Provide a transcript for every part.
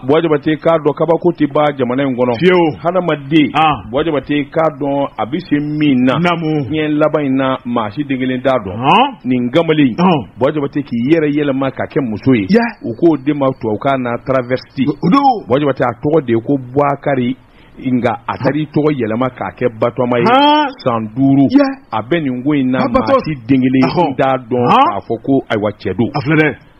Bwa jabate k'a dɔn kabako tɛ ban jamana in kɔnɔ fiyewu hadamaden bwa jabate k'a dɔn a bɛ se min na diɲɛ laban in na maa si den kelen t'a dɔn nin kamalen bwa jabate k'i yɛrɛ yɛlɛma ka kɛ muso ye u k'o de ma tubabukan na travesti bwa jabate a tɔgɔ de ye ko bukari nka a taara i tɔgɔ yɛlɛma k'a kɛ batoma ye san duuru a bɛ nin ko in na maa si den kelen t'a dɔn k'a fɔ ko ayiwa cɛ don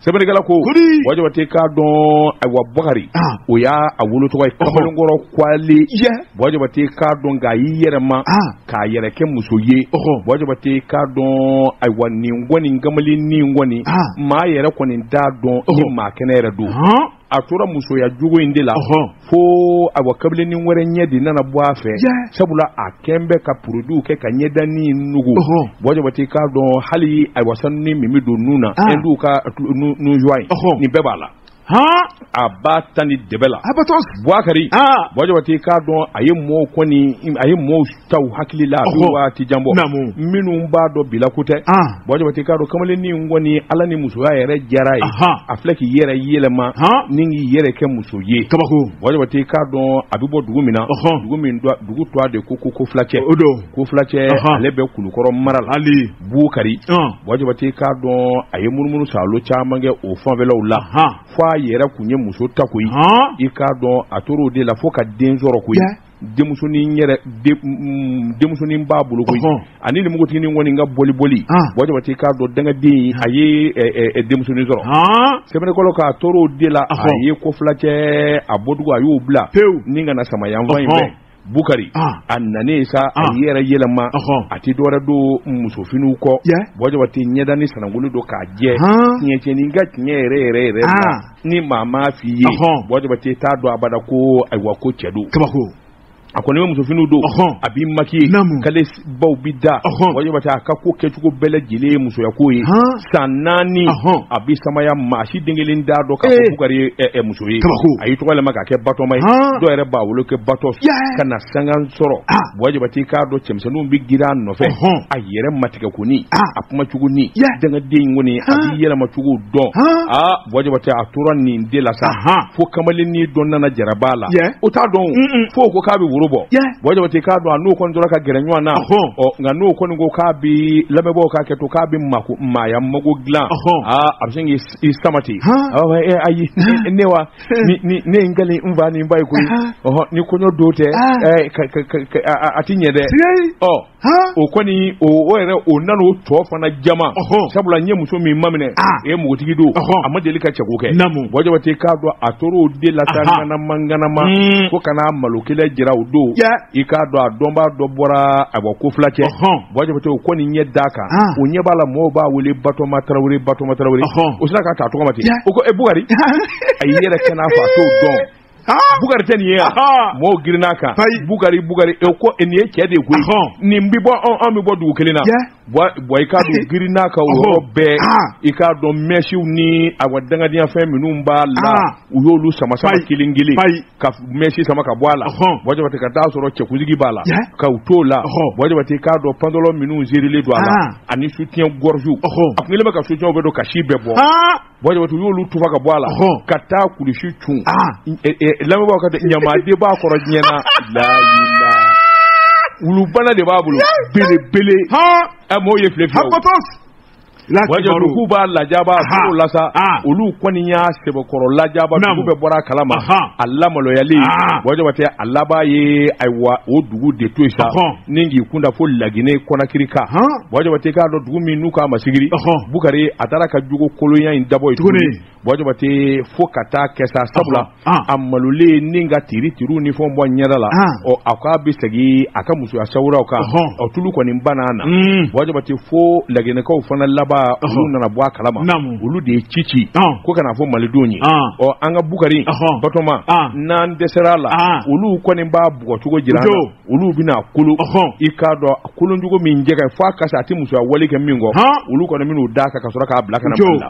sɛbɛnnikɛla ko Kodi! bwa jabate k'a dɔn ayiwa bukari Ah. o y'a wolo tɔgɔ ye kamalenkɔrɔ kwale ye bwa jabate k'a dɔn nka a y'i yɛlɛma Ah. k'a yɛrɛ kɛ muso ye Ɔhɔ. bwa jabate k'a dɔn ayiwa nin kɔni kamalen nin kɔni Ah. maa yɛrɛ kɔni t'a dɔn ni Ɔhɔ. maa kɛnɛ yɛrɛ don hɔn a tora musoya jogo in de la fo ayiwa kamalennin wɛrɛ ɲɛ de nana bɔ a fɛ sabula a kɛlen bɛ ka produitw kɛ ka ɲɛdanin nugu bwa jabate k'a dɔn hali ayiwa sanunin min bɛ don nun na ah. hindu ka nun zuwa ye nin bɛɛ b'a la a ba tan ni dɛbɛ la bukari bwa jabate k'a dɔn a ye mɔɔw kɔni a ye mɔɔw ta hakili la waati jan bɔ minnu b'a dɔn bilako tɛ bwa jabate k'a dɔn kamalennin kɔni ala ni musoya yɛrɛ diyara a ye a filɛ k'i yɛrɛ yɛlɛma ni k'i yɛrɛ kɛ muso ye kabako bwa jabate k'a dɔn a bɛ bɔ dugu min na dugu min dugu tɔgɔ de ko ko kofilacɛ o don kofilacɛ ale bɛ kulukɔrɔ mara la hali bukari bwa jabate k'a dɔn a ye munumunu saalo caman kɛ o fanfɛlaw la fo a yɛrɛ tun ye muso ta koyi i k'a dɔn a tora o de la fo ka den sɔrɔ koyi denmusonin yɛrɛ mm, denmusonin b'a bolo koyi ani nimugutinin kɔni ka boli boli bwa jabate k'a dɔn danganden a ye denmusonin sɔrɔ sɛbɛnnikɛla k'a tora o de la a ye kofilacɛ a bɔdugu a y'o bila pewu ni ka na samaya fan in fɛ bukari a nanen sa a y'i yɛrɛ yɛlɛma a tɛ dɔwɛrɛ don musofiniw kɔ bwa jabate ɲɛdanin sanankolen don k'a jɛ tiɲɛ cɛnin ka tiɲɛ yɛrɛ yɛrɛ yɛrɛ ni maa m'a f'i ye bwa jabate i t'a dɔn abada ko ayiwa ko cɛ don kabako a kɔni bɛ musofini don a b'i makiye kale baw bɛ da bwa jabate a ka ko kɛcogo bɛɛ lajɛlen ye musoyako ye san naani a bɛ samaya maa si den kelen t'a dɔn ka bukari muso ye a y'i tɔgɔ yɛlɛma k'a kɛ batoma ye dɔw yɛrɛ b'a wele ko bato ka na sanga sɔrɔ bwa jabate k'a dɔn cɛmisɛnninw bɛ girin a nɔfɛ yɛrɛ matigɛ kɔni a kuma cogo ni dangaden kɔni a b'i yɛlɛmacogo dɔn aa bwa jabate a tora nin de la sa fo kamalennin dɔ nana jarabi a la o t'a dɔn fo ko k'a bɛ woro bɔ bwa jabate k'a dɔn a n'o kɔni tora ka gɛrɛ ɲɔgɔn na nka n'o kɔni ko k'a bɛ lamɛn bwa k'a kɛ to k'a bɛ mako maaya mago dilan aa a bɛ sin k'i sama ten ayi ne wa ne n kali n fa ni n ba ye koyi ni kɔɲɔ don tɛ a tɛ ɲɛ dɛ ɔ o kɔni o yɛrɛ o nana o tɔgɔ fana jama sabula n ye muso min maminɛ e ye npogotigi don a ma deli ka cɛko kɛ buwa jabatɛ i k'a dɔn a tora o de la ka ŋanamaŋanama fo ka na malo kelen jira o don i k'a dɔn a dɔnbaa dɔ bɔra a bɔ ko fila cɛ buwa jabatɛ o kɔni ɲɛ da a kan o ɲɛ b'a la mɔgɔw b'a wele batoma tarawele batoma tarawele o sera ka taa tɔgɔma ten o ko e bukari a y'i yɛrɛ kɛ i n'a fɔ a t'o dɔn Bukari tɛ nin ye yan mɔgɔw girinna a kan bukari bukari e ko nin ye cɛ de ye koyi nin bɛ bɔ anw bɛ bɔ dugu kelen na buwa i k'a dɔn girinna k'o yɔrɔ bɛɛ i k'a dɔn mɛsiw ni a wa dangadyafɛn minnu b'a la u y'olu sama kelen kelen ka mɛsi sama ka bɔ a la buwa jabatɛ ka t'a sɔrɔ cɛkunsigi b'a la ka u t'o la buwa jabatɛ i k'a dɔn pendelu minnu sirilen don a la ani soutien-gorgew a tun kɛlen ka soutien bɛɛ don ka sin bɛɛ bɔ Buwa jabatɛ u y'olu tufa ka bɔ a la ka taa kulusi cun lamɛnbaa ka ɲamaden b'a kɔrɔ diɲɛna la wulubana de b'a bolo belebele a mɔgɔw ye file fiyɛ k'u b'a lajaba o la sa olu kɔni y'a sɛbɛkɔrɔ lajaba dugu bɛɛ bɔra a kalama a lamaloyalen buwa jabatɛ a laban ye ayiwa o dugu de to yen sa ni k'i kun da fo laginɛ konakiri kan buwa jabatɛ k'a dɔn dugu min n'u k'o ma sigiri bukari a taara a ka jogo kolonya in dabɔ yen tuguni buwa jabatɛ fo ka taa kɛ sabula a malolen ni ka tiiritiiriw ni fond bɔ ɲɛda la ɔ a k' a bɛ segin a ka musoya sawura kan ɔ tulu kɔni banna na buwa jabatɛ fo laginɛkaw fana laban olu nana bɔ a kalama olu de ye ci ci ko ka na a fɔ malidenw ye ɔ an ka bukari batoma n'an dɛsɛra a la olu kɔni b'a bugɔcogo jira olu bɛna a kolo i k'a dɔn kolocogo min jɛgɛ fo a kasi a tɛ musoya wale kɛ min kɔ olu kɔni min'u da a kan ka sɔrɔ k'a bila ka na la